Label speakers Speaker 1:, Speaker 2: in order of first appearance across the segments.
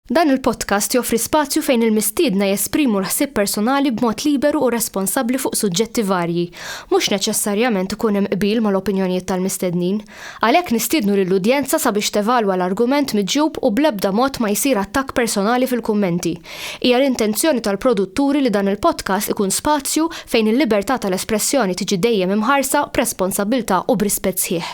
Speaker 1: Dan il-podcast joffri spazju fejn il-mistiedna jesprimu l-ħsieb personali b'mod liberu u responsabbli fuq suġġetti varji. Mhux neċessarjament ikun hemm qbil mal-opinjonijiet tal-mistednin. Għalhekk nistiednu lill-udjenza sabiex tevalwa l-argument miġjub u bl-ebda mod ma jsir attakk personali fil-kummenti. Hija l-intenzjoni tal-produtturi li dan il-podcast ikun spazju fejn il-libertà tal-espressjoni tiġi dejjem imħarsa b'responsabbiltà u b'rispett sħiħ.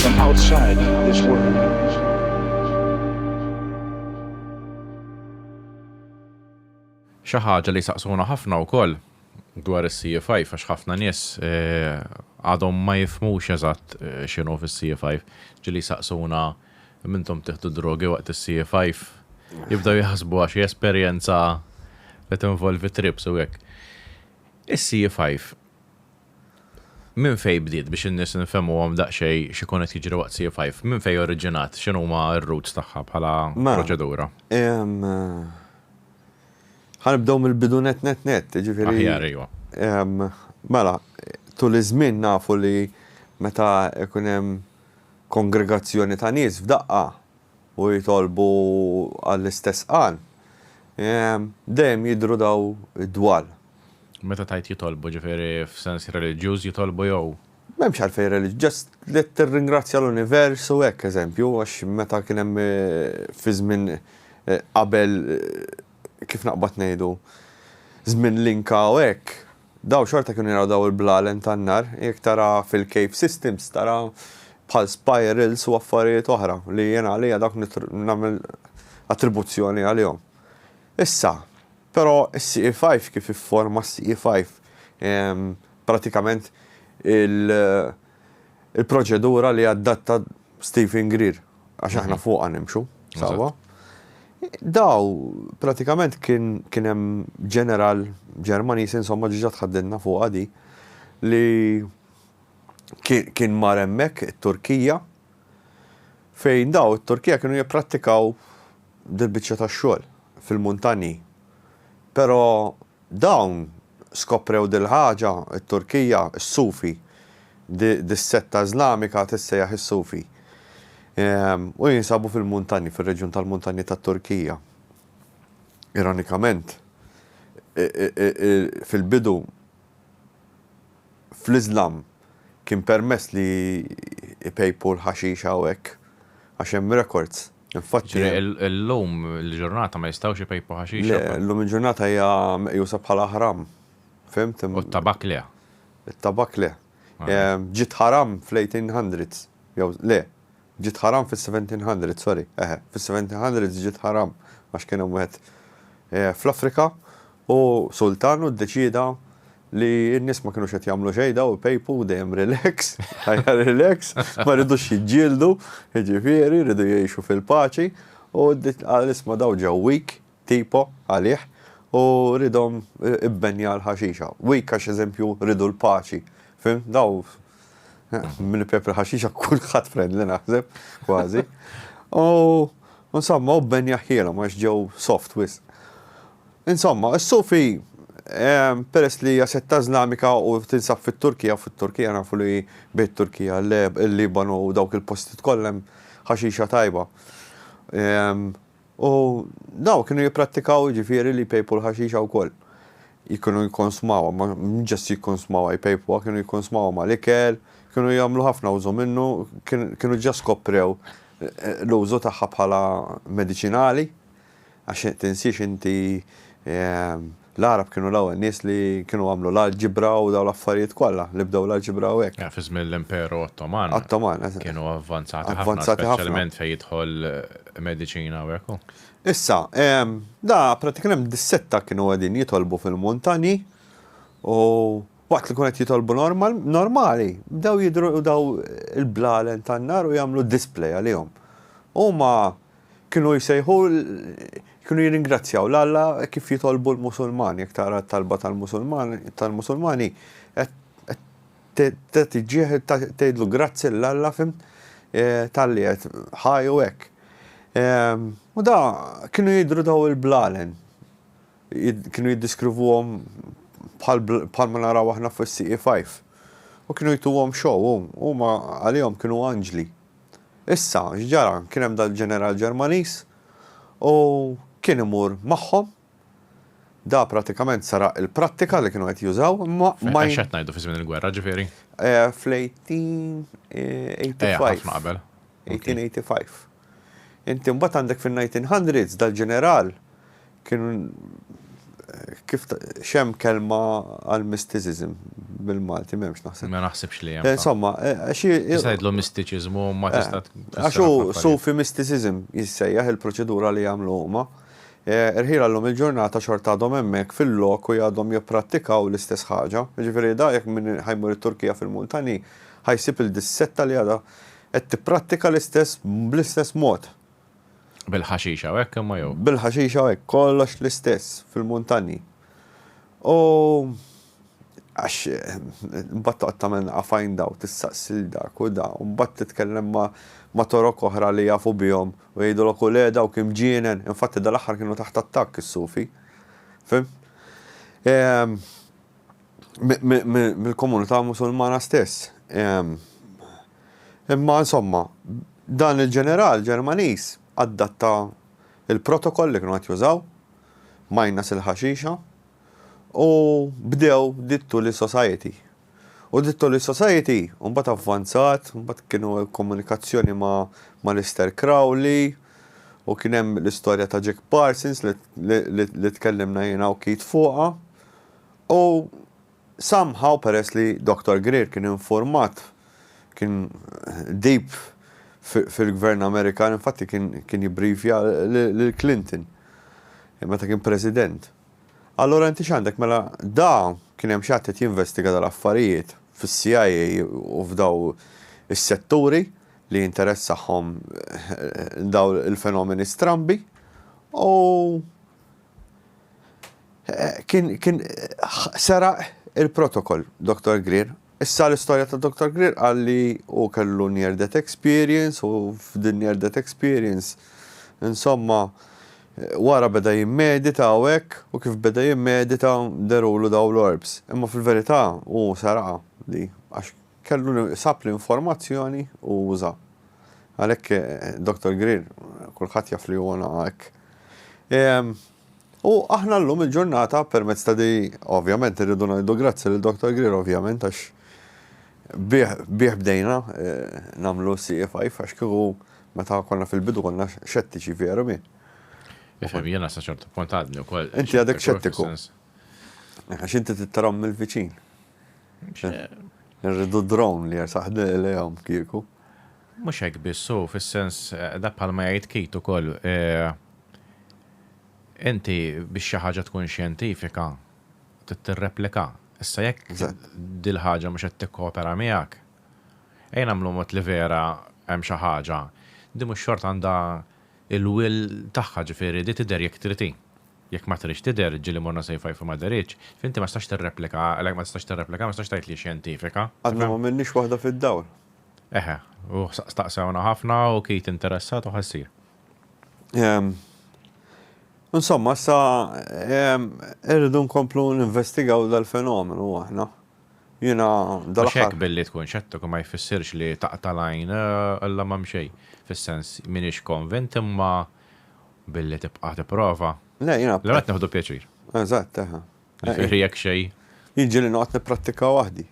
Speaker 1: from outside this world. Xi ħaġa li saqsuna ħafna wkoll dwar is-CFI għax ħafna nies eh, għadhom ma jifmux eżatt eh, x'inhu fis-CFI ġili saqsuna mintom tiħdu drogi waqt is-CFI jibdew jaħsbu għax esperjenza li tinvolvi trips u hekk. Is-CFI Minn fejn bdiet biex in-nies nfehmuhom daqsxejn x'ikun qed jiġri waqt C5? Minn fejn oriġinat? X'inhuma r-roots tagħha bħala proċedura? Ħa nibdew mill-bidu nett nett nett, jiġifieri. Aħjar, ejwa. Mela, tul iż-żmien nafu li meta jkun hemm kongregazzjoni ta' nies f'daqqa, u jitolbu għall-istess għan, dejjem jidhru dawn id-dwal. Meta tgħid jitolbu, ġifieri f'sens reliġjuż jitolbu jew? M'hemmx għalfejn reliġjuż, just li tirringrazzja l-univers u hekk, eżempju, għax meta kien hemm fi żmien qabel, kif naqbad ngħidu, żmien l-Inka u hekk, Dawn xorta kienu jaraw dawn il-blalen tan-nar, jekk tara fil-cave systems tara bħal spirals u affarijiet oħra li jien għalija dawk nagħmel attribuzzjoni għalihom. Issa, però is-CE five kif ifforma s-CE five pratikament il-proċedura li adatta Stephen Greer, għax aħna fuqha nimxu, sawa. Daw, pratikament kien hemm ġeneral Ġermaniż insomma ġiġa tħaddinna fuqha di li kien mar hemmhekk it-Turkija fejn daw it-Turkija kienu jipprattikaw dil-biċċa tax-xogħol fil-muntanji. Però Dawn skoprew dil-ħaġa, it-Turkija, is-Sufi, dis-setta Iżlamika tissejjaħ is-Sufi, u jinsabu fil-muntanji, fir-reġjun tal-muntanji tat-Turkija. Ironikament, fil-bidu, fl-Iżlam kien permess li jpejpu l-ħaxix hawn hekk, għax hemm rekords. Infatti. Illum il-ġurnata ma jistgħux ipejpu ħaxix. Le, illum il-ġurnata hija meqjusa bħala ħram. Fhimt? U t-tabakk le. It-tabakk le. Ġiet ħaram fl-1800s. Jew le, ġiet ħaram fis-1700, sorry. Eħe, fis-1700s ġiet ħaram għax kien hemm wieħed fl-Afrika u sultan u ddeċieda li n-nies ma kinux qed jagħmlu xejn daw ipejpu dejjem relax, ħajja relax, ma rridux jiġġieldu, jiġifieri rridu jgħixu fil-paċi u qal isma' daw ġew weak tipo għalih u ridhom ibbenja l-ħaxixa. Weak għax eżempju rridu l-paċi. Fim, daw minn pep il-ħaxixa kulħadd friendly naħseb, kważi. U insomma u bbenja ħjielhom għax ġew soft wisq. Insomma, is-Sufi, peress li hija setta Iżlamika u tinsab fit-Turkija, fit-Turkija nafu li bejn it-Turkija, il-Libanu u dawk il-postijiet kollha hemm ħaxixa tajba. U dawn kienu jipprattikaw jiġifieri li jpejpu l-ħaxixa wkoll. Kienu jikkonsmawha, ma ġast jikkonsmawha, jpejpuha, kienu jikkonsmawha mal-ikel, kienu jagħmlu ħafna użu minnu, kienu ġa skoprew l-użu tagħha bħala mediċinali. Għax tinsiex inti l-Għarab kienu l-ewwel nies li kienu għamlu l-alġibra u dawn l-affarijiet kollha li bdew l-alġibra u hekk. Fi żmien l-Imperu Ottoman. Ottoman, eżatt. Kienu avvanzati ħafna. Avvanzati ħafna. Speċjalment fejn jidħol mediċina u hekk u. Issa, da prattikament dis-sitta kienu qegħdin jitolbu fil-muntanji u waqt li kienu qed jitolbu normali bdew jidhru dawn il-blalen tan-nar u jagħmlu display għalihom. Huma Kienu jsejħu, kienu jirringrazzjaw 'l Alla hekk kif jitolbu l-Musulmani, jekk tara t-talba tal-Musulmani qed tiġġiegħ tgħidlu grazzi 'l Alla, fhimt, talli qed ħaj u hekk. U da kienu jidhru daw il-blalen, kienu jiddiskrivuhom bħal ma naraw aħna fis-CE5. U kienu jtuhom show, huma għalihom kienu anġli. Issa, x'ġara? Kien hemm dal-ġeneral Ġermaniż u kien imur magħhom. Da prattikament saraq il-prattika li kienu qed jużaw, imma ma. Għax qed ngħidu fi żmien il-gwerra, ġifieri? Fl-1885. Eja, ħafna qabel. 1885. Inti mbagħad għandek fin-1900s dal-ġeneral Kien kif x'hemm kelma għal mysticism bil-Malti m'hemmx naħseb. Ma naħsibx li hemm. Insomma, xi. Tista' tgħidlu mistiċiżmu ma tista' tfisser. Għax hu sufi mysticism jissejjaħ il-proċedura li jagħmlu huma. Irħielha llum il-ġurnata xorta għadhom hemmhekk fil-lok u għadhom jipprattikaw l-istess ħaġa. Jiġifieri da jekk min ħa jmur it-Turkija fil-muntani ħa jsib il dis-setta li għadha qed tipprattika l-istess bl-istess mod. Bil-ħaxixa u hekk imma jew? Bil-ħaxixa u hekk, kollox l-istess fil-muntanji. U għax mbagħad toqgħod tagħmel għafajn daw tistaqsi lil dak u da, u mbagħad titkellem ma' torok oħra li jafu bihom u jgħidulok u le dawk imġienen, infatti dal-aħħar kienu taħt attakk is-Sufi. Fim? Mill-komunità Musulmana stess. Imma insomma, dan il-ġeneral Ġermaniż adatta l-protokoll li kienu qed jużaw, minus il-ħaxixa, u bdew The Tuli Society. U The Tuli Society mbagħad avvanzat, mbagħad kienu komunikazzjoni ma' Alistair Crowley, u kien hemm l-istorja ta' Jack Parsons li tkellimna jiena u Keith fuqha. U Somehow peress li Dr Greer kien infurmat, kien deep fil-Gvern Amerikan, infatti kien jibbrifja lil Clinton meta kien President. Allura inti x'għandek? Mela da kien hemm xi ħadd qed jinvestiga dal-affarijiet fis-CIA u f'daw is-setturi li jinteressahom daw il-fenomeni strambi u Kien kien seraq il-protocol Doktor Greer. Issa l-istorja ta' Doktor Greer qal li hu kellu near death experience u f'din near death experience insomma wara beda jimmedita u hekk u kif beda jimmedita dehru lu dawn l-orbs. Imma fil-verità hu seraqha di għax Kellu sab l-informazzjoni u uża. Għalhekk Dr. Greer kulħadd jaf li huwa naqa' hekk. U aħna llum il-ġurnata permezz ta' di ovvjament irridu ngħidu grazzi lil Dr. Greer ovvjament għax bih bdejna eh, nagħmlu CFI għax kieku meta konna fil-bidu konna xettiċi veru mi. Ifhem jiena sa ċertu punt għadni wkoll. Inti għadek xettiku. Għax inti tittarhom mill-viċin. Irridu drone li jersaħ lejhom kieku. Mhux hekk biss hu, fis-sens, dak bħalma jgħid Keith ukoll, inti biex xi ħaġa tkun xjentifika trid tirreplika. Issa jekk dil-ħaġa mhux qed tikkopera miegħek, ejja nagħmlu mod li vera hemm xi ħaġa, din mhux xorta għandha il-will tagħha, ġifieri di tidher jekk trid hi. Jekk ma tridx tidher, ġieli Monna Sejfa Jfu ma dehritx, f'inti ma tistax tirreplika għaqlek, ma tistax tirreplika, ma tistax tgħid li hi xjentifika. Għadna m'għamilniex waħda fid-dawl. Eħe, u staqsewna ħafna u Keith interessat u ħassir. Insomma, issa irridu nkomplu ninvestigaw dal-fenomenu aħna. Jiena dal-aħħar. Għax hekk billi tkun xettiku ma jfissirx li taqta' l-għajn, Alla m'hemm xejn, fis-sens m'iniex konvint imma billi tibqa' tipprova. Le, jiena. Allura qed nieħdu pjaċir. Eżatt, eħe. Jiġifieri jekk xejn. Jiġri li noqgħod nipprattika waħdi.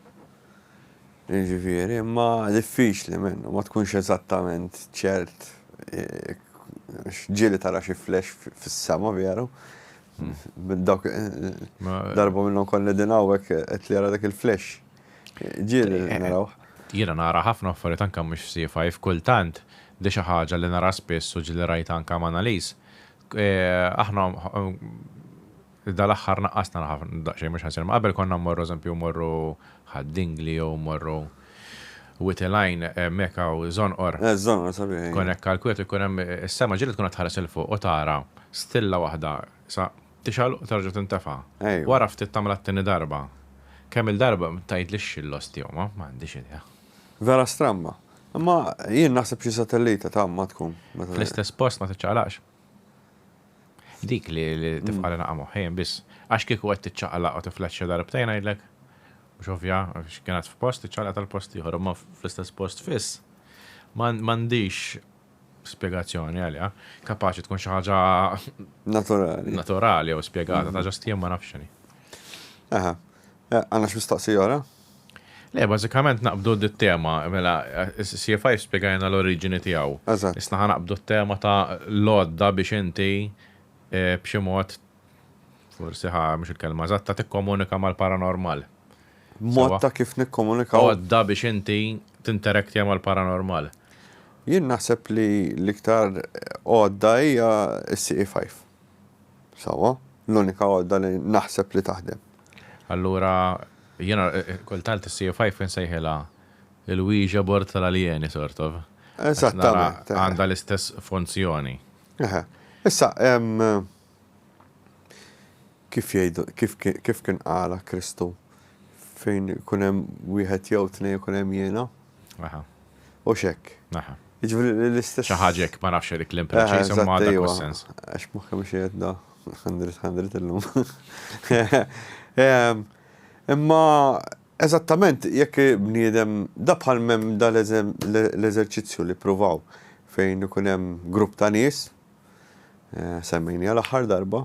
Speaker 1: Jiġifieri, imma diffiċli minnu, ma tkunx eżattament ċert, għax ġieli tara xi flash fis-sema veru, Dawk darba minnhom konna din hawnhekk qed li ara dak il-flash. Ġiel naraw. Jiena nara ħafna affarijiet anke mhux f'C5 kultant di xi ħaġa li nara spiss u ġieli rajtha anke m'Analise. Aħna dal-aħħar naqqas nara daqsxejn mhux ħażin imma qabel konna mmorru eżempju mmorru Ħad-Dingli jew mmorru Wied il-għajn hemmhekk hawn żonqor. Eh, żonqor sabiħ, ejja. Kon hekk għall-kwiet ikun hemm is-sema ġieli tkun qed tħares 'il fuq u tara stilla waħda sa tixgħal u terġa' tintefa'. Ejwa. Wara ftit tagħmilha t-tieni darba. Kemm il-darba tgħidlix xi l-osti jew ma, m'għandix idea. Vera stramba. Imma jien naħseb xi satellita ta' ma tkun. Fl-istess post ma tiċċaqlaqx. Dik li tifqali naqa' moħħin biss. Għax kieku qed tiċċaqlaq u tiflaxxa darbtejn ngħidlek, mhux ovvja, għax kienet f'post tiċċaqlaq tal-post ieħor, imma fl-istess post fiss m'għandhiex spjegazzjoni għaliha. Kapaċi tkun xi ħaġa naturali. Naturali jew spjegata ta' ġast jien ma nafx x'inhi. Aha. Għandna x'mistaqsi ora? Le, bażikament naqbdu dit-tema, mela CFI spjegajna l-oriġini tiegħu. Eżatt. Issa ħa naqbdu t-tema ta' l-għodda biex inti b'xi mod, forsi ħa mhux il-kelma eżatta, tikkomunika mal-paranormal. Mod ta' kif nikkomunikaw. Għodda biex inti tinteraktja mal-paranormal. Jien naħseb li l-iktar għodda hija s-CE5. Sewwa? L-unika għodda li naħseb li taħdem. Allura jiena kultant is-CFI fin nsejħilha l-Ouija board tal-aljeni sort of. Eżattament. Għandha l-istess funzjoni. Eħe. Issa hemm kif jgħidu kif kien qala Kristu fejn ikun hemm wieħed jew tnejn ikun hemm jiena. Aha. U x'hekk. Aha. Jiġifieri l-istess. Xi ħaġa hekk ma nafx dik l-impreċiż imma dak is-sens. Għax moħħi mhux qiegħed da. Għandrit, għandrit illum. Imma, eżattament, jekk bniedem, da bħal mem da l-eżerċizzju li provaw fejn ikun hemm grupp ta' nies, eh, semmejni għal aħħar darba,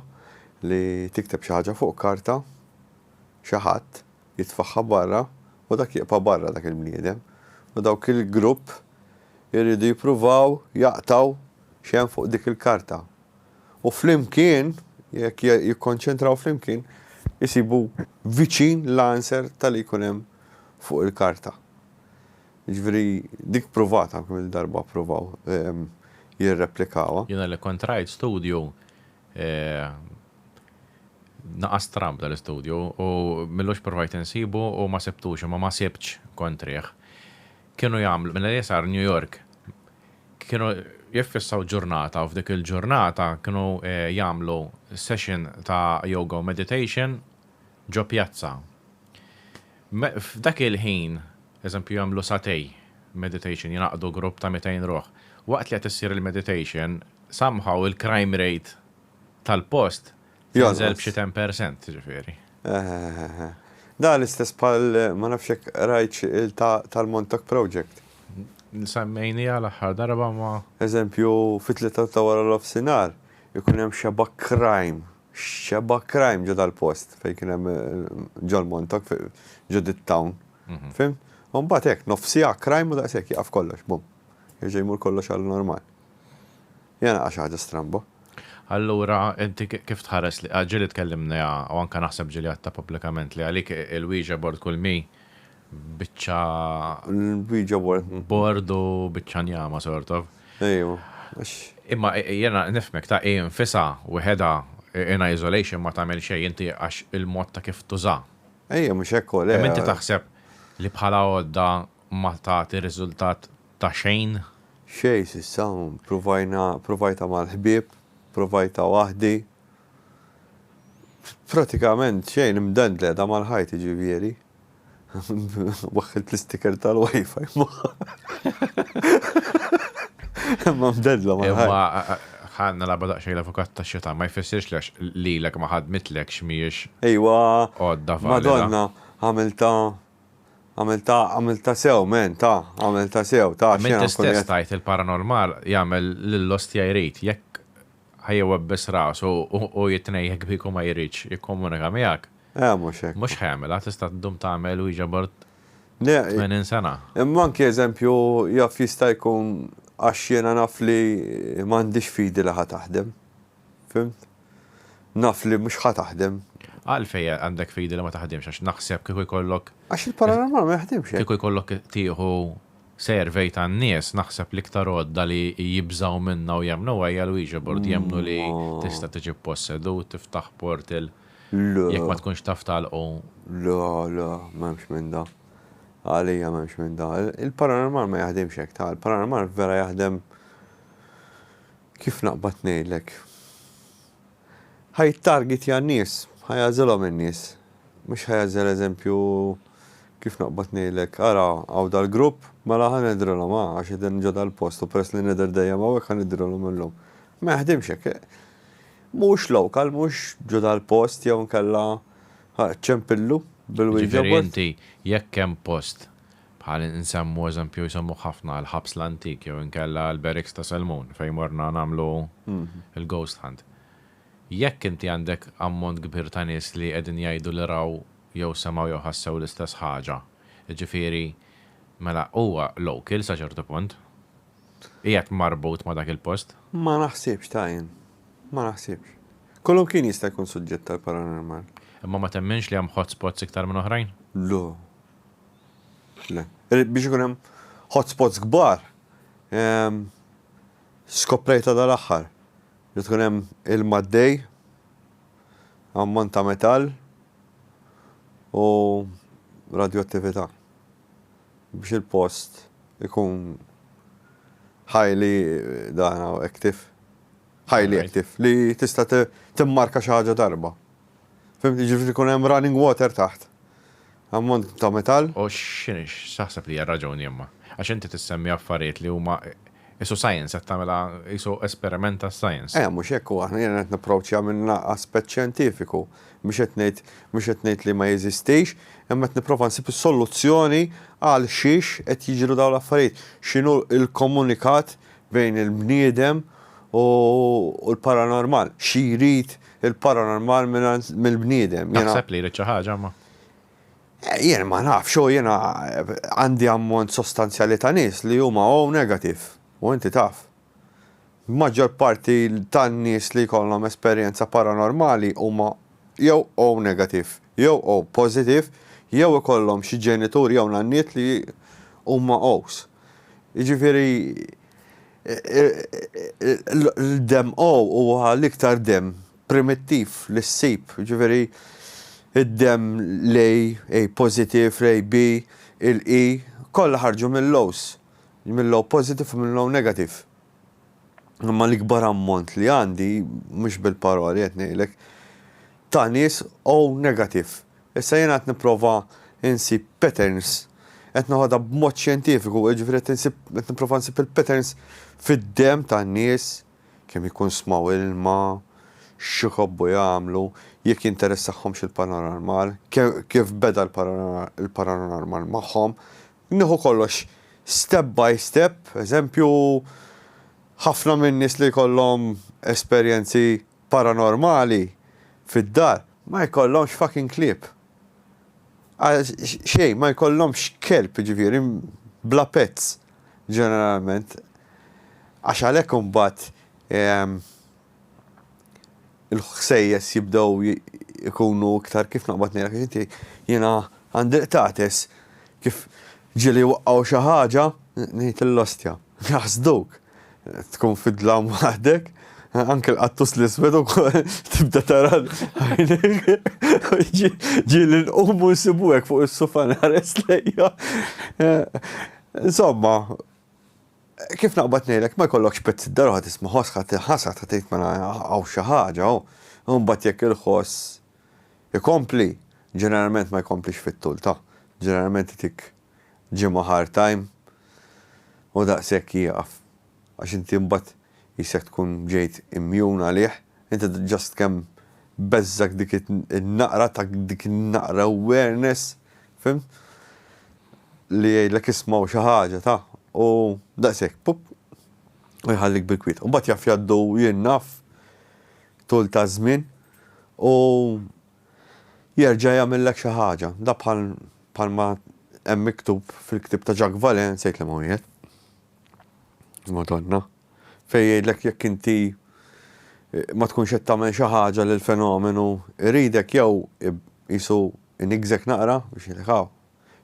Speaker 1: li tikteb xi ħaġa fuq karta, xi ħadd jitfaħħa barra u dak jibqa' barra dak il-bniedem. U dawk il-grupp irridu jippruvaw jaqtaw xem fuq dik il-karta. u flimkien, jekk jikkonċentraw flimkien, isibu viċin l-answer ta' li jkun hemm fuq il-karta. Jiġifieri dik pruvata, kemm-il darba ppruvaw jirreplikawha. Jiena li kont rajt studju, naqas tramb dal-istudju, u milux pruvajt insibu u ma sibtux, imma ma sibtx kontrih. Kienu jagħmlu, mela li sar New York, kienu jiffissaw ġurnata u f'dik il-ġurnata kienu jagħmlu session ta' yoga u meditation ġo pjazza. F'dak il-ħin, eżempju jagħmlu satej meditation, jingħaqdu grupp ta' 200 ruħ. Waqt li qed issir il-meditation, somehow il-crime rate tal-post Jonżel b'xi 10% ġifieri. Da l-istess bħal ma nafx hekk rajtx il-ta' tal-Montauk Project. Semmejniha l-aħħar darba ma. Eżempju, fit-tlieta ta' wara l-ofsinhar ikun hemm xebgħa crime, xebgħa crime ġo dal-post fejn kien hemm ġol-Montauk ġo dit-town. Fhimt? U mbagħad hekk nofsiegħa crime u daqshekk jieqaf kollox, bum. Jerġa' jmur kollox għall-normal. Hija naqra xi ħaġa stramba. Allura inti kif tħares li, ġieli tkellimniha u anke naħseb ġieli għedtha pubblikament li għalik il-Ouija board kull mi biċċa L-Ouija board. board u biċċa njama sort of. Ejwa, għax. Imma jiena nifhmek ta' hi nfisha weħedha in isolation ma tagħmel xejn inti għax il-mod ta' kif tużha. Ejja mhux hekk hu le. Imma inti taħseb li bħala għodda ma tagħti riżultat ta' xejn? Xejn s'issa, provajna, provajtha mal-ħbieb, provajtha waħdi. Pratikament xejn, imdendleda mal-ħajt jiġifieri. Waħħilt l-isticker tal-WiFi magħha. Imma mdendla mal-ħajt. Imma ħa nilgħabha daqsxejn l-avukat tax-xetan, ma jfissirx li għax lilek ma ħadmitlekx mhijiex. Ejwa. Għodda valida. Madonna, għamiltha Għamilta, għamilta sew, men, ta, għamilta sew, ta, xena. Minti stess tajt il-paranormal jagħmel lill-ostja jrid, jekk ħa jwebbes rasu u jitnej jekk biku ma jridx jikkomunika miegħek. Eh, mhux hekk. Mhux ħa jagħmilha, tista' ddum tagħmel Ouija board 80 sena. Imma anki eżempju jaf jista' jkun għax jiena naf li m'għandix fidi li ħa taħdem. Fhimt? Naf li mhux ħa taħdem. Għalfejn għandek fidi li ma taħdimx għax naħseb kieku jkollok. Għax il-paranormal ma jaħdimx hekk. Kieku jkollok tieħu survey tan-nies naħseb l-iktar għodda li jibżgħu minnha u jemmnuha hija l-Ouija board, jemmnu li tista' tiġi ppossedut, tiftaħ portal jekk ma tkunx taf tagħlqu. Le, le, m'hemmx minn dan. Għalija m'hemmx minn dan. Il-paranormal ma jaħdimx hekk, ta' il-paranormal vera jaħdem Kif naqbad ngħidlek. Ħa jittargitja n-nies, ħa jagħżilhom in-nies. Mhux ħa jagħżel eżempju, kif naqbad ngħidlek, ara hawn dal-grupp, mela ħa nidhrilhom hawn għax qegħdin ġo dal-post u peress li nidher dejjem hawnhekk ħa nidhrilhom illum. Ma jaħdimx hekk. Mhux local, mhux ġo dal-post jew inkella ċempillu bil-wieġeb. Jiġifieri inti jekk hemm post Bħal insemmu eżempju jsemmuh ħafna l-Ħabs l-Antik jew inkella l-Barracks ta' Selmun fejn morna nagħmlu l-ghost hunt. Jekk inti għandek ammont kbir ta' nies li qegħdin jgħidu li raw jew semgħu jew ħassew l-istess ħaġa, jiġifieri mela huwa local sa ċertu punt. Qiegħed marbut ma' dak il-post. Ma naħsibx ta' jien. Ma naħsibx. Kull imkien jista' jkun suġġett għall-paranormal. Imma ma temminx li hemm hotspots iktar minn oħrajn? Le. Biex ikun hemm hotspots kbar, skoprejta dal-aħħar li tkun hemm ilma għaddej, ammont ta' metall u radjoattività biex il-post ikun highly dan active, highly active, li tista' timmarka xi ħaġa darba. Fhimtni, jiġifieri jkun hemm running water taħt. Ammont ta' metall. U x'inhi, x'taħseb li hija r-raġuni imma? Għax inti tissemmi affarijiet li huma qisu science, qed tagħmilha qisu esperiment tas-science. Eh, mhux hekk hu, aħna jiena qed napproċċja minn aspett xjentifiku. Mhux qed ngħid, mhux qed ngħid li ma jeżistix, imma qed nipprova nsib is-soluzzjoni għal xiex qed jiġru dawn l-affarijiet. X'inhu l-komunikat bejn il-bniedem u l-paranormal. Xi jrid Il-paranormal mingħand mill-bniedem. Jiena- Taħseb li jrid xi ħaġa ma. Jien ma nafx, u jiena għandi ammont sostanzjali ta' nies li huma O negative, u inti taf. L-maġġor parti tan-nies li jkollhom esperjenza paranormali huma jew O negative, jew O positive, jew ikollhom xi ġenitur jew nanniet li huma O's. Jiġifieri. L-DMO huwa l-iktar demm primittiv li ssib, jiġifieri d-demm l-A, A positive, l-A B, il-E, kollha ħarġu mill-O's, mill-O positive u mill-O negative. Imma l-ikbar ammont li għandi, mhux bil-paroli qed ngħidlek, ta' nies O negative. Issa jiena qed nipprova nsib patterns, qed noħodha b'mod xjentifiku, jiġifieri qed insib, qed nipprova nsib il-patterns fid-demm tan-nies, kemm ikun smgħu ilma, x'iħobbu jagħmlu, jekk jinteressahomx il-paranormal, kif beda l-paranormal magħhom. Nieħu kollox step by step, eżempju, ħafna min-nies li jkollhom esperjenzi, paranormali fid-dar ma jkollhomx fucking klieb. Għal xejn ma jkollhomx kelb jiġifieri bla pets ġeneralment. Għax għalhekk imbagħad il-ħsejjes jibdew ikunu iktar kif noqgħod ngħidlek għax inti jiena għandi l-qtates kif ġieli jwaqqgħu xi ħaġa ngħid l-ostja. Jaħsduk. Tkun fid-dlam waħdek, anke l-qattus l-iswed u tibda tara ġieli nqum u nsibu hekk fuq is-sufan ħares lejja. Insomma, kif naqbad ngħidlek ma jkollokx pezz id-dar ħadd isma' ħoss ħadd ħasra ta' tgħid mela hawn xi ħaġa hawn. Imbagħad jekk il-ħoss ikompli, ġeneralment ma jkomplix fit-tul ta'. Ġeneralment itik ġimgħa hard time u daqshekk jieqaf għax inti mbagħad qisek tkun ġejt immjun għalih, inti just kemm beżżgħek dik in-naqra ta' dik in-naqra awareness, fimt? Li jgħidlek isma' u xi ħaġa ta' u daqshekk pup u jħallik bil-kwiet. U mbagħad jaf jgħaddu jien naf tul ta' żmien u Jerġa' jagħmillek xi ħaġa. Da bħal bħalma hemm miktub fil-ktieb ta' Jacques Vallée, sejt liema wieħed. Madonna. Fejn jgħidlek jekk inti ma tkunx qed tagħmel xi ħaġa lil fenomenu jridek jew qisu iniggżek naqra biex jgħidlek hawn.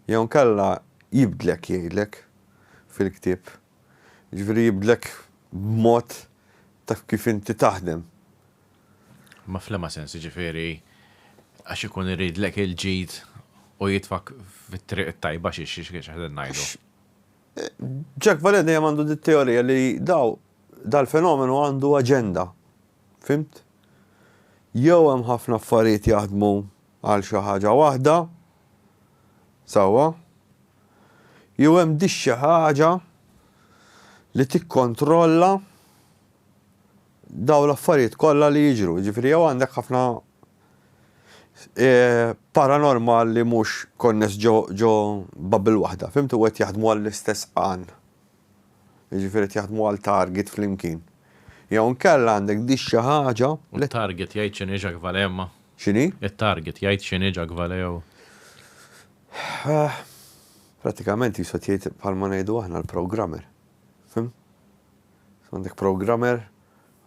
Speaker 1: Jew inkella jibdlek jgħidlek fil-ktieb. Jiġifieri jibdlek b'mod ta' kif inti taħdem. Ma fl-ema sens, jiġifieri għax ikun iridlek il-ġid u jitfak fit-triq it-tajba xi xi xi qegħdin ngħidu. Jack Valliere dejjem għandu dit-teorija li daw dal-fenomenu għandu aġenda. Fhimt? Jew hemm ħafna affarijiet jaħdmu għal xi ħaġa waħda, sewwa, jew hemm dix-xi ħaġa li tikkontrolla dawn l-affarijiet kollha li jiġru. Jiġifieri jew għandek ħafna eh, paranormal li mhux konness ġo ġo bubble waħda, fimt u qed jaħdmu għall-istess qan. Jiġifieri qed jaħdmu għal target flimkien. Jew nkella għandek di xi ħaġa U li t-target jgħid x'inhi Jacques Vallée imma? x'inhi? It-target jgħid x'inhi Jacques Vallée jew? Eh, Prattikament jisu qed jgħid bħalma ngħidu aħna l-programmer. Fim? Għandek programmer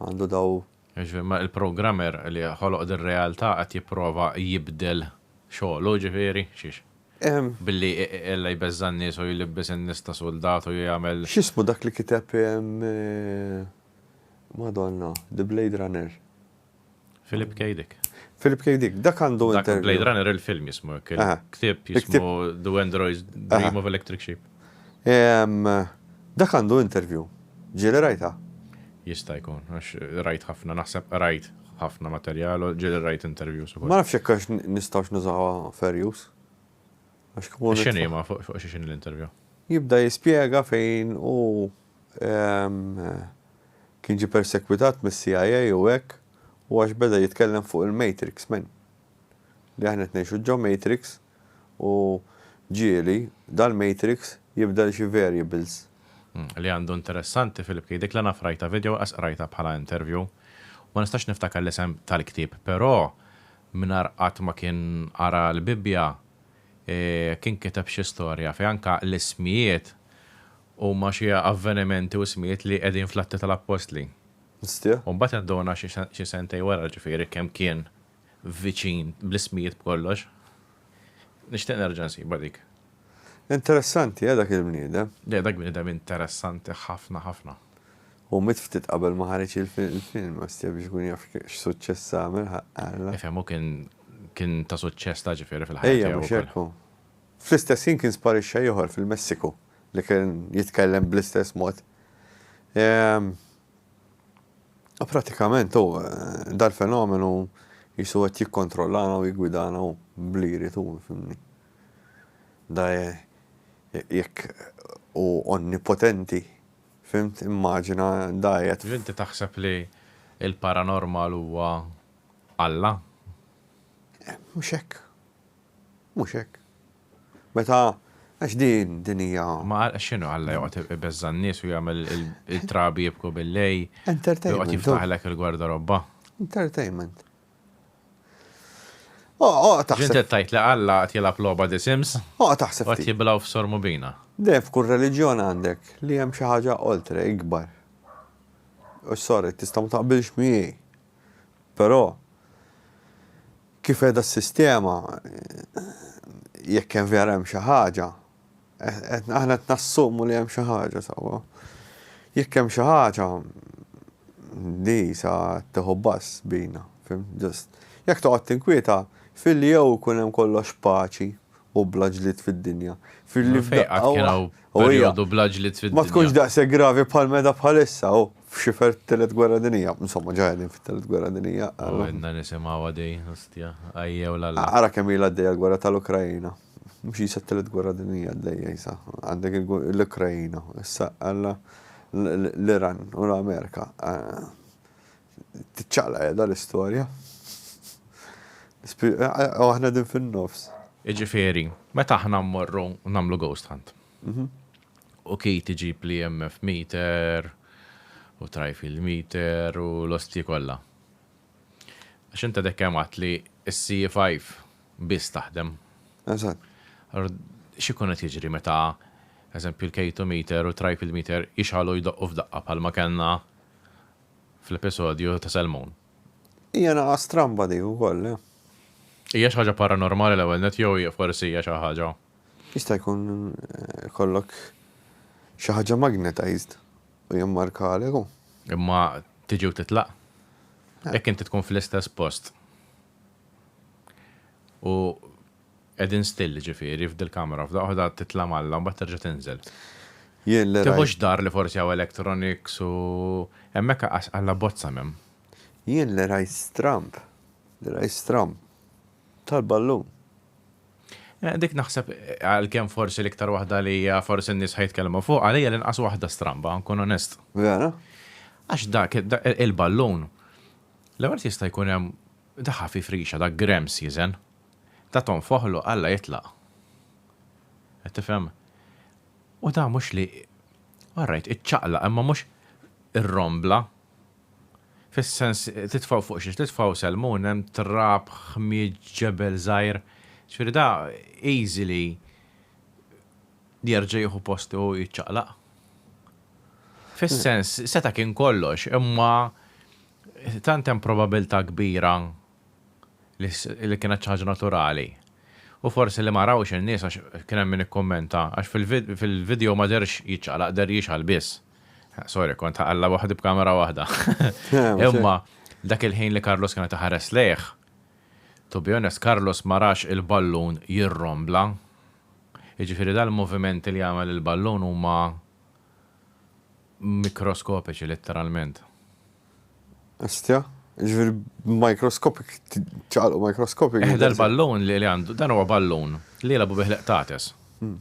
Speaker 1: għandu daw. Jiġifieri ma il-programmer li ħoloq dir-realtà qed jipprova jibdel xogħlu jiġifieri? Xiex? Billi ella jbeżża' n-nies u jlibbes in-nies ta' suldat u jagħmel. X'ismu dak li kiteb Madonna, The Blade Runner? Philip K. Dick. Philip K. Dick, dak għandu interview. Blade Runner il-film jismu, ktib jismu The Android's Dream of Electric Sheep. Dak għandu interview. Ġili rajta? Jista' jkun, għax rajt ħafna, naħseb rajt ħafna materjal, ġili rajt interview. Ma nafx jekk għax nistawx nużawa fair use. Għax kumuni. X'inhi ma fuq x'inhi l-interview? Jibda jispjega fejn u Kien ġie persegwitat mis-CIA u hekk u għax beda jitkellem fuq il-Matrix men. Li aħna qed ngħixu ġo Matrix u ġieli dal-Matrix jibdel xi variables. Li għandu interessanti fil-ktieb, dik la naf rajtha video laqas qrajtha bħala interview. Ma nistax niftakar l-isem tal-ktieb però mingħajr qatt ma kien qara l-Bibbja kien kiteb xi storja fejn anke l-ismijiet Huma xi avvenimenti u ismijiet li qegħdin fl-Atti tal-Appostli. Nistieħ. U mbagħad induna xi sentejn wara, ġifieri kemm kien viċin bl-ismijiet b'kollox. Nixtieq nerġa' nsiba dik. Interessanti, eh, dak il-bniedem. Le, dak bniedem interessanti ħafna ħafna. Hu miet ftit qabel ma ħareġ il-film, ostja biex ikun jaf x'suċċess għamel ħaqqa. Ifhem hu kien kien ta' suċċess ta' ġifieri fil-ħajja tiegħu. Ejja, mhux hekk hu. Fl-istess ħin kien sparixxa ieħor fil-Messiku. li kien jitkellem bl-istess mod. Ehm, pratikament u eh, dal-fenomenu jisu qed jikkontrollana u jigwidana u bli jrid u fimni. Da eh, jekk u onnipotenti, fimt, immaġina da jgħet. Inti taħseb li il-paranormal huwa Alla? Eh, mhux hekk. Mhux hekk. Meta, għax din, din hija. Ma għal, x'inhu Alla joqgħod ibeżża' n-nies u jagħmel it-trabi jibku bil-lejl. Entertainment. Joqgħod jiftaħlek il-gwardarobba. Entertainment. Oqgħod taħseb. Ġiet tgħid li Alla qed jilgħab logħba The Sims? Oqgħod taħseb. Qed jiblaw f'Sor Mubina. Deh f'kull reliġjon għandek li hemm xi ħaġa oltre, ikbar. U sorry, tista' ma taqbilx miegħi. Però, kif qiegħda s-sistema, jekk hemm vera hemm xi ħaġa, aħna qed nassumu li hemm xi ħaġa, sewwa. Jekk hemm xi ħaġa, di sa tieħu bass bina, fhimt, ġust. Jekk toqgħod tinkwieta, filli jew ikun hemm kollox paċi u bla ġlied fid-dinja. Filli f'daqqa waħda. Fejn qatt kien hawn perjodu bla ġlied fid-dinja? Ma tkunx daqshekk gravi bħal meta bħalissa u f'xifer t-Tielet Gwerra Dinjija. Insomma, ġa qegħdin fit-Tielet Gwerra Dinjija. U għedna nisimgħuha din, ostja, ajjew l-Alla. Ara kemm ilha għaddejja l-gwerra tal-Ukraina. Mhux jisa t-Tielet Gwerra Dinjija għaddejja jisa. Għandek l-Ukraina, issa għandna l-Iran u l-Amerika. Tiċċaqlaq qiegħda l-istorja. U aħna qegħdin fin-nofs. Jiġifieri, meta aħna mmorru nagħmlu ghost hunt. U Keith iġib l-EMF meter, u tri-field meter, u l-ostji kollha. Għax int għadek kemm għedt li s-CE5 biss taħdem. Eżatt. Allura, x'ikun qed jiġri meta, eżempju, l-K2 meter u t-tri-field meter jixgħalu jdoqqu f'daqqa bħalma kellna fl-episodju ta' Salmon. Hija naqa' stramba dik ukoll, le? Hija xi ħaġa paranormali l-ewwel nett jew hija forsi hija xi ħaġa? Jista' jkun ikollok xi ħaġa magnetized u jimmarkalek u. Imma tiġi u titlaq. Jekk inti tkun fl-istess post u Qegħdin still jiġifieri f'dil-kamra, f'daqqa waħda titla' malla u mbagħad terġa' tinżel. Jien li rajt. Tieħux dar li forsi hawn electronics u hemmhekk aqqas alla bozza m'hemm. Jien li rajt stramb, li rajt stramb tal-ballun. Dik naħseb għalkemm forsi l-iktar waħda li hija forsi n-nies ħa jitkellmu fuqha li hija l-inqas waħda stramba ħa nkun onest. Vera? Għax dak il-ballun l-ewwel jista' jkun hemm dak ħafif rixa dak grems jiżen. Ta' tonfoħlu Alla jitlaq. Qed tifhem? U dan mhux li, all right, iċċaqlaq imma mhux irrombla. Fis-sens titfgħu fuq xiex titfgħu selmun hemm trab, ħmieġ, ġebel żgħir. Ġifieri da easy li jerġa' jieħu postu u jiċċaqlaq. Fis-sens seta' kien kollox imma tant hemm probabilità kbira li kienet xi ħaġa naturali. U forsi li ma rawhx in-nies għax kien hemm min ikkummenta, għax fil-video ma dehrx jiċċaqlaq deher jixgħal biss. Sorry, kont ħaqalla waħdi b'kamera waħda. Imma dak il-ħin li Carlos kienet iħares lejh, to be honest, Carlos ma rax il-ballun jirrombla. Jiġifieri dal-movimenti li jagħmel il-ballun huma mikroskopiċi letteralment. Ostja? Ġifieri b'mikroskopik ċaqalqu mikroskopik. Eh, dal-ballun li għandu, dan huwa ballun li jilagħbu bih l-qtates. Hmm.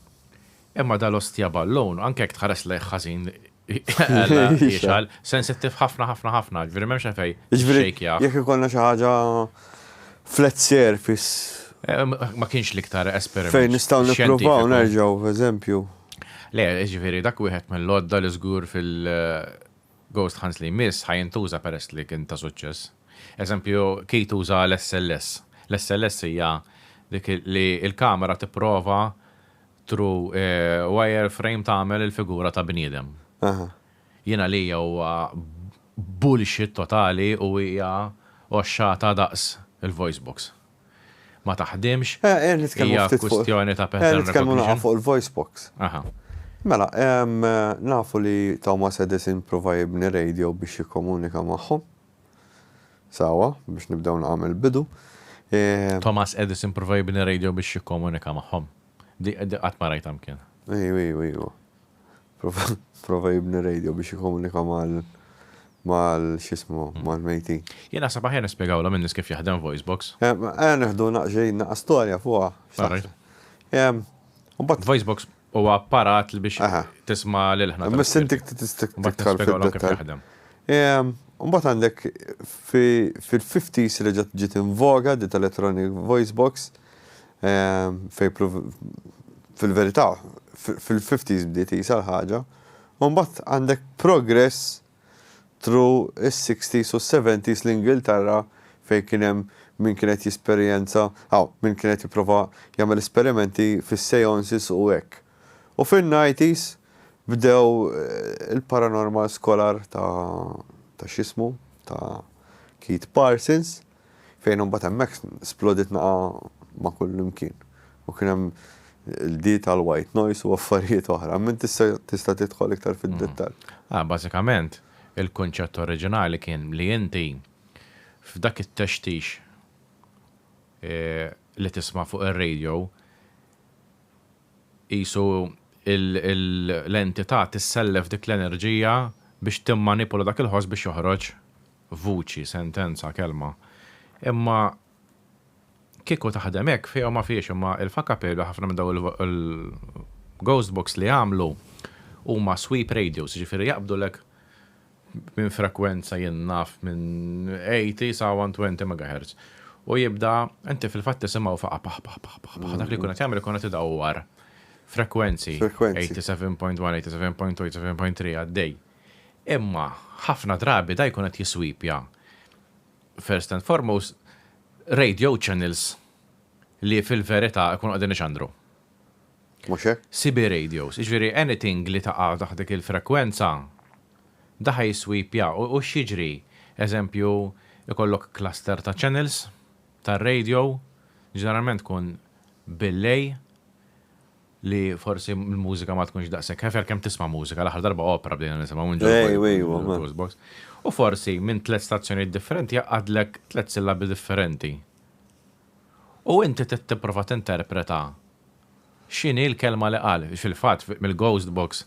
Speaker 1: Imma dal-ostja ballun, anke jekk tħares lejh ħażin jixal, sensittiv ħafna ħafna ħafna, ġviri memx għafej. Ġviri, jek ikonna xaħġa flat surface. Eh, ma kienx liktar esperiment. Fejn nistaw nipruvaw nerġaw, eżempju. Le, jiġifieri dak wieħed mill-għodda li żgur fil-ghost hunts li jmiss ħa jintuża peress li kien ta' suċċess. Eżempju, Keith uża l-SLS. L-SLS hija dik li l-kamera tipprova through wire frame tagħmel il-figura ta' bniedem. Jien għalija huwa bullshit totali u hija għoxxata daqs il-voice box. ma taħdimx, hija kwistjoni ta' pattern recognition? Nitkellmu naqgħu fuq il-voice box. Mela, nafu li Thomas Edison pprova jibni radio biex jikkomunika magħhom. Sewwa, biex nibdew naqgħu mill-bidu. Thomas Edison pprova jibni radio biex jikkomunika magħhom. Qatt ma rajtha mkien. Ejju, ejju, ejju. Prova jibni radio biex jikomunika mal mal xismu, mal mejtin. Jien naħseb aħjar nispjegawlhom in-nies kif jaħdem voice box. Ejja neħdu naqxejn naqa' storja fuqha. Voice box huwa apparat li biex tisma' lil ħna. Imma sintik tistik tiktar fid-dettall. Mbagħad għandek fil-50s reġgħet ġiet invoga dit electronic voice box Fejn fil-verità fil-fifties bdiet qisha l-ħaġa. U mbagħad għandek progress through is-sixties u s-seventies l-Ingilterra fejn kien hemm min kien qed jesperjenza, hawn, min kien qed jipprova jagħmel esperimenti fis-seances u hekk. U fin-nineties bdew il-paranormal scholar ta' x'ismu, ta' Keith Parsons. Fejn imbagħad hemmhekk splodiet nagħa ma' kullimkien u kien hemm il-di tal-white noise u affarijiet oħra. Min tista' tista' tidħol iktar fid-dettall? Ah, bażikament, il-kunċett oriġinali kien li inti f'dak it-textix li tisma' fuq ir-radio qisu l-entità tissellef dik l-enerġija biex timmanipula dak il-ħoss biex joħroġ vuċi, sentenza, kelma. Imma kieku taħdem hekk, fiha u ma fihiex, imma il-Facapello ħafna minn dawn il-ghost box li jagħmlu huma sweep radios, jiġifieri jaqbdulek minn frekwenza jien naf minn 80 sa 120 megahertz. U jibda, inti fil-fatt tisimgħu faqa' paħ paħ paħ paħ paħ, dak li jkun qed jagħmel ikun qed idawwar frekwenzi, 87.1, 87.2, 87.3 għaddej. Imma ħafna drabi dan jkun qed jiswipja first and foremost radio channels li fil-verità jkunu qegħdin ixandru. Mhux hekk? CB radios, jiġifieri anything li taqa' taħt dik il-frekwenza dan ħa jiswipja u x'jiġri? Eżempju, ikollok cluster ta' channels tar-radio, ġeneralment tkun bil-lejl, li forsi l-mużika ma tkunx daqshekk hefer kemm tisma' mużika, l-aħħar darba opera bdejna nisimgħu minn ġol Ej, ej, wa, ma. Toastbox. U forsi minn tliet stazzjonijiet differenti jgħaqqadlek tliet sillabi differenti. U inti trid tipprova tinterpreta x'inhi l-kelma li qal. Fil-fatt, fi- mill-ghost box,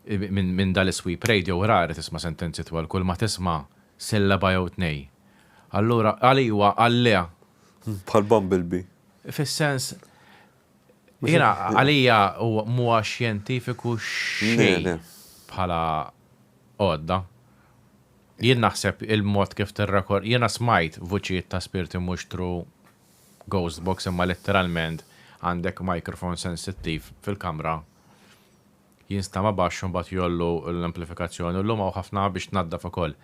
Speaker 1: i- minn minn dan is-sweep radio rari tisma' sentenzi twal kull ma tisma' sillaba jew tnej. Allura għal iwa, għal le, Bħal Bumblebee. fis-sens Jiena għalija mhuwa xjentifiku xejn bħala għodda. Jien naħseb il-mod kif tirrekor, jiena smajt vuċijiet ta' spirti mhux through ghost box imma letteralment għandek microphone sensittiv fil-kamra. jinstama' baxx u mbagħad jgħollu l-amplifikazzjoni u llum hawn ħafna biex tnaddaf ukoll.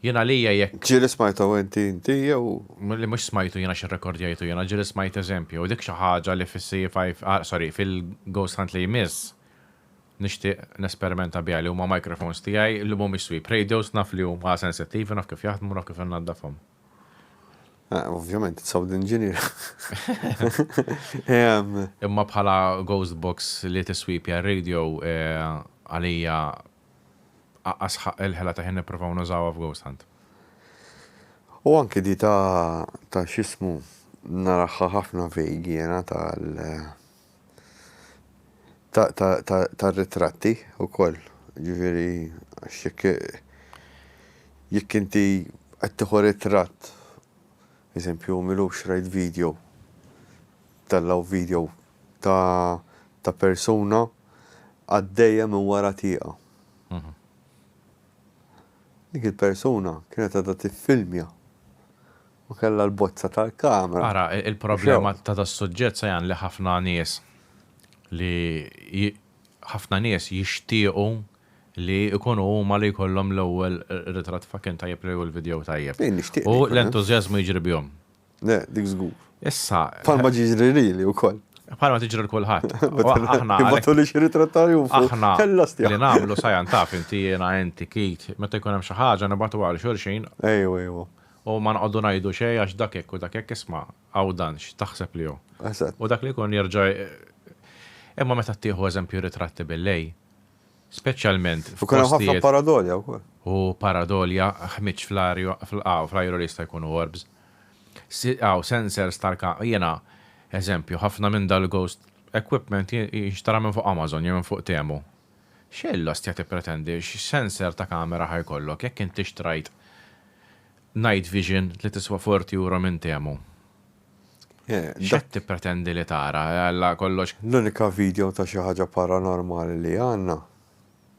Speaker 1: Jien għalija jekk. Ġieli smajthau inti inti jew. Li mhux smajtu jien għax irrekordjajtu jien, ġieli smajt eżempju u dik xi ħaġa li fis-CE5, sorry, fil-Ghost Hunt li jmiss nixtieq nesperimenta biha li huma microphones tiegħi li mhumiex sweep radios naf li huma sensittivi naf kif jaħdmu naf kif innaddafhom. Ah, ovvjament, it's sound engineer. Imma bħala ghost box li tiswipja radio eh, għalija asħaq il-ħela ta' ħin niprofaw nużawa f'ghost hunt. U anki di ta' ta' xismu naraħħa ħafna vejgi jena tal ta' ritratti u koll, ġifiri, xek jek inti għattiħu ritratt, eżempju, milu xrajt video, tellaw video ta' persuna għaddeja minn wara tieqa. Dik il-persuna kienet għadha tiffilmja U kellha l-bozza tal-kamra. Ara, il-problema ta' das-suġġett Sajan li ħafna nies li ħafna nies jixtiequ li jkunu huma li jkollhom l-ewwel ritratt fucking tajjeb li hu l-video tajjeb. Jien nixtieq li jkun hemm. U l-entużjażmu jiġri bihom. Le, dik żgur. Issa. Bħalma jiġri lili wkoll. Bħalma tiġri 'l kulħadd. Aħna. Jibgħatulix ir-ritratt ta' Arjun fuq. Aħna. Kellha stjaħ. Li nagħmlu Sajan taf inti jiena inti Keith meta jkun hemm xi ħaġa nibgħatuha għal xulxin. Ejwa, ejwa. U ma noqogħdu ngħidu xejn għax dak hekk u dak hekk, isma' hawn dan x'taħseb li hu. Eżatt. U dak li jkun jerġa' Imma meta ttieħu eżempju ritratti bil-lejl, speċjalment f'postijiet. U kien hemm ħafna paradolja wkoll. U paradolja, ħmieġ fl-arja, hawn fl-ajru li jista' jkunu orbs. Hawn sensors tal Jiena, eżempju, ħafna minn dal-ghost equipment jinxtara minn fuq Amazon jew minn fuq Temu. X'għin l-ostja tippretendi? X'sensor ta' kamera ħa jkollok jekk int ixtrajt night vision li tiswa forty euro minn Temu? X'qed tippretendi li tara? Alla kollox. L-unika video ta' xi ħaġa paranormali li għandna,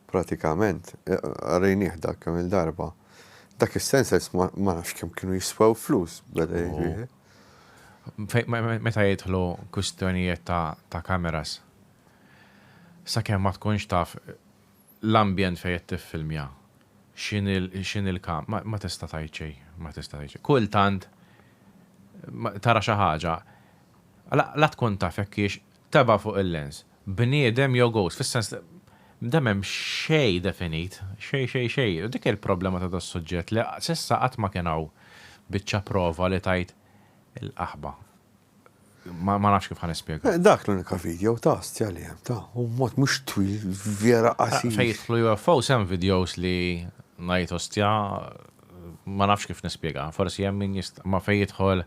Speaker 1: pratikament, rejnieh dak kemm-il darba, dak is-sensors ma nafx kemm kienu jiswew flus, beda jgħid wieħed. Meta jidħlu kwistjonijiet ta' cameras, Sakemm ma tkunx taf l-ambjent fejn qed tiffilmja, x'inhi x'inhi l-kam, ma ma tista' tgħid xejn, ma tista' tgħid xejn. Kultant tara xi ħaġa, la la tkun taf jekk hix tebgħa fuq il-lens, bniedem jew ghost, fis-sens li da m'hemm xejn definit, xejn xejn xejn. U dik hi l-problema ta' das-suġġett li s'issa qatt ma kien hawn biċċa prova li tgħid il-qaħba. Ma nafx kif ħan ispjega. Eh, dak l-unika video ta' stja li hemm ta' u mod mhux twil vera eh, qasir. Fejn jidħlu UFO sem videos li ngħid ostja ma nafx kif nispjega. Forsi hemm min jist ma fejn jidħol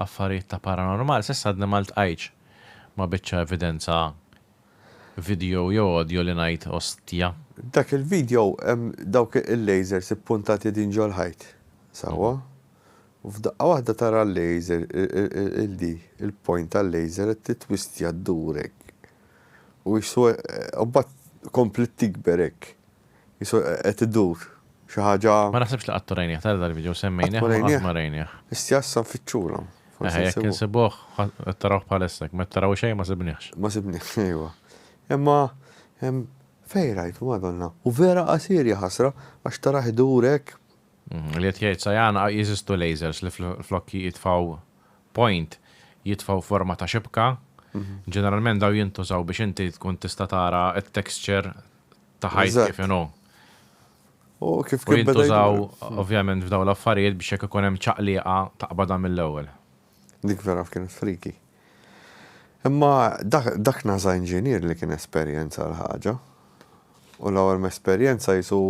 Speaker 1: affarijiet ta' paranormal, s'issa għadni ma ltqajtx ma biċċa evidenza video jew audio li ngħid ostja. Dak il-video hemm dawk il-lasers ippuntati din ġol-ħajt. Sawa? Mhm. U f'daqqa waħda tara l-laser, il-di, il-point tal-laser qed titwistja ddur hekk. U qisu u mbagħad kompliet tikber hekk. Qisu qed idur. Xi ħaġa. Ma naħsibx li qatt u rajnieh, tara dal-video, semmejnieh imma qatt ma rajnieh. Qisti issa nfittxulha. Eħe, jekk insibuh, qed tarawh bħalissa, jekk ma qed taraw xejn ma sibniehx. Ma sibniehx, ejwa. Imma fejn rajtu, Madonna. U vera qasir, jaħasra, għax tarah idur hekk. Li qed jgħid Sajan, jeżistu lasers li flok jitfgħu point, jitfgħu forma ta' xibka. Ġeneralment dawn jintużaw biex inti tkun tista' tara t-texture ta' ħajt kif inhu. U kif kien beda. U jintużaw ovvjament f'dawn l-affarijiet biex jekk ikun hemm ċaqlieqa taqbadha mill-ewwel. Dik vera f'kienet freaky. Imma dak naza inġinier li kien esperjenza l-ħaġa. U l-ewwel mesperjenza jisu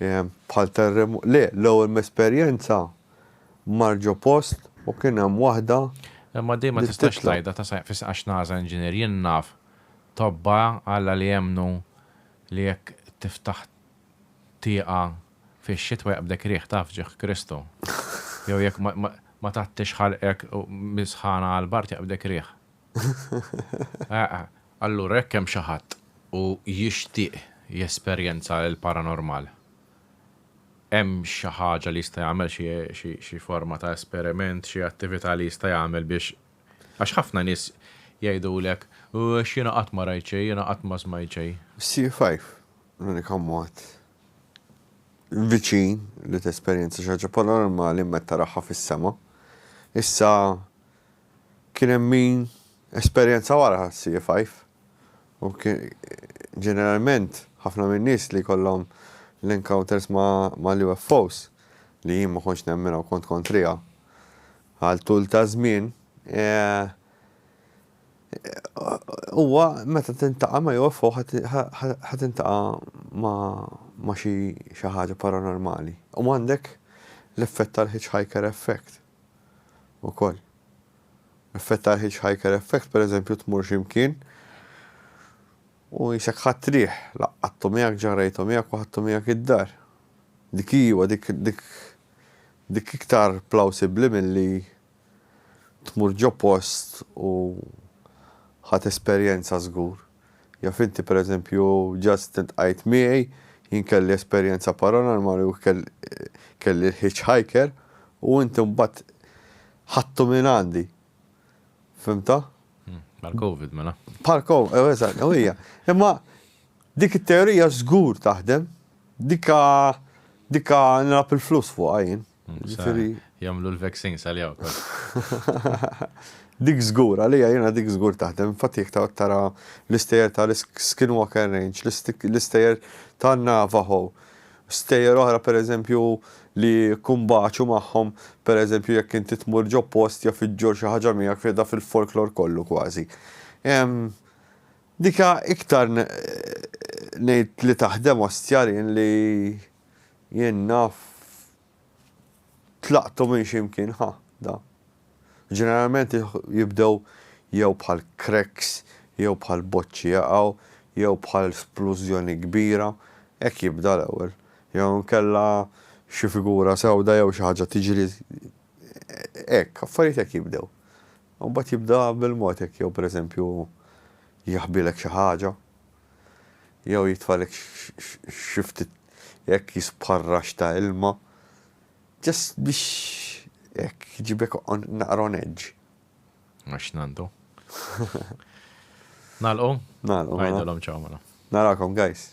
Speaker 1: ehm, bħal terremot. Le, l-ewwel mesperjenza marġo post u kien hemm waħda. Imma dejma tistax tajda ta' fis għax naza inġinier jien naf tobba Alla li jemmnu li jekk tiftaħ tieqa' fix-xitwa jaqbdek riħ ta' fġieħ Kristu. Jew jekk ma tgħattix ħalqek mis-sħana għall-bard jaqbdek riħ. Eħ. Allura jekk hemm xi ħadd u jixtieq jesperjenza l-paranormal, hemm xi ħaġa li jista' jagħmel xi forma ta' esperiment, xi attività li jista' jagħmel biex, għax ħafna nies jgħidulek, għax jiena qatt ma rajt xejn, jiena qatt ma smajt xejn. Xi jfajf. L-unika mod viċin li tesperjenza xi ħaġa paranormali meta taraha fis-sema. Issa kien hemm min esperjenza wara sci five u ġeneralment ħafna min-nies li jkollhom l-encounters mal-UFOs li jien ma kontx nemminha u kont kontriha għal tul ta' żmien, Huwa meta tintaqa' ma' UFO ħa tintaqa' ma' xi xi ħaġa paranormali. U għandek l-effett tal-hitchhiker effect ukoll. L-effett tal-hitchhiker effect pereżempju tmur xi mkien u qisek ħadt riħ, laqqattu miegħek, ġarrejtu miegħek u ħadtu miegħek id-dar. Dik hi iva dik dik dik iktar plawsibbli milli Tmur ġo post u ħadt esperjenza żgur. Jaf inti per eżempju just iltqajt miegħi, jien kelli esperjenza paranormali u kelli l-hitch hiker u inti mbagħad ħadtu minn għandi. Fimta? Bħal Covid mela. Bħal Covid, ew eżatt, u hija. Imma dik it-teorija żgur taħdem, dika dika nilgħab il-flus fuqha jien. Ġifiri. Jamlu l-vaccines għal-jaw. Dik zgur, għalija jena dik zgur taħdem, fatti jek tara l-istejer ta' l-Skinwalker Range, l-istejer ta' Navajo, stejer oħra per eżempju li kumbaċu maħħom, per eżempju jek inti tmur ġo post jaf iġġor xi ħaġa miegħek fida fil-folklor kollu kważi. Dika iktar ngħid li taħdem ostjarien li Jien naf tlaqtu minn xi mkien ħa da. Ġeneralment jibdew jew bħal cracks, jew bħal boċċi jaqgħu, jew bħal splużjoni kbira, hekk jibda l-ewwel. Jew inkella xi figura sewda jew xi ħaġa tiġri hekk, affarijiet hekk jibdew. U mbagħad jibda bil-mod hekk jew pereżempju jaħbilek xi ħaġa, jew jitfagħlek xi ftit hekk jispħarrax ta' ilma just biex hekk jġibek naqra on edge. Għax nandu. Nalqu? Nalqu. Mela. Għajdalhom ċaw mela. Narakom guys.